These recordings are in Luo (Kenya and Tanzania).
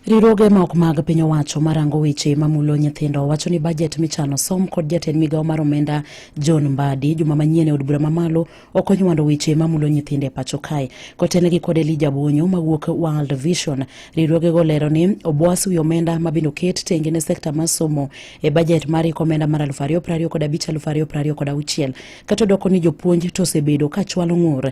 Riwruoge ma ok mag piny owacho marango weche mamulo nyithindo wacho ni bajet michano som kod jatend migawo mar omenda John Mbadi juma manyien e od bura mamalo ok onywando weche mamulo nyithindo e pacho kae. Kotenegi kod Elija Bonyo mawuok World Vision, riwruogego lero ni obwas wi omenda mabende oket tenge ne sekta mar somo e bajet mar iko omenda mar 2025 kod 2026 kata odoko ni jopuonj to osebedo ka chwalo ng'ur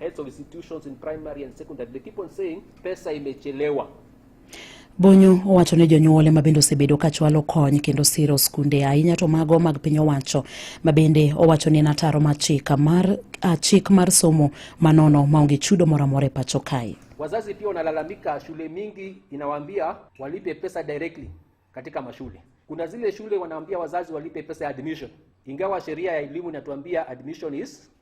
Heads of institutions in primary and secondary, they keep on saying pesa imechelewa. Bonyo owacho ne jonyuol ema bende osebedo ka chwalo kony kendo siro skunde ahinya to mago mag piny owacho ma bende owacho ni en ataro mar chik mar, ah, chik mar somo manono maonge chudo moro amora e pacho kae. Wazazi pia wanalalamika, shule mingi inawaambia walipe pesa directly katika mashule. Kuna zile shule wanaambia wazazi walipe pesa ya admission, ingawa sheria ya elimu inatuambia admission is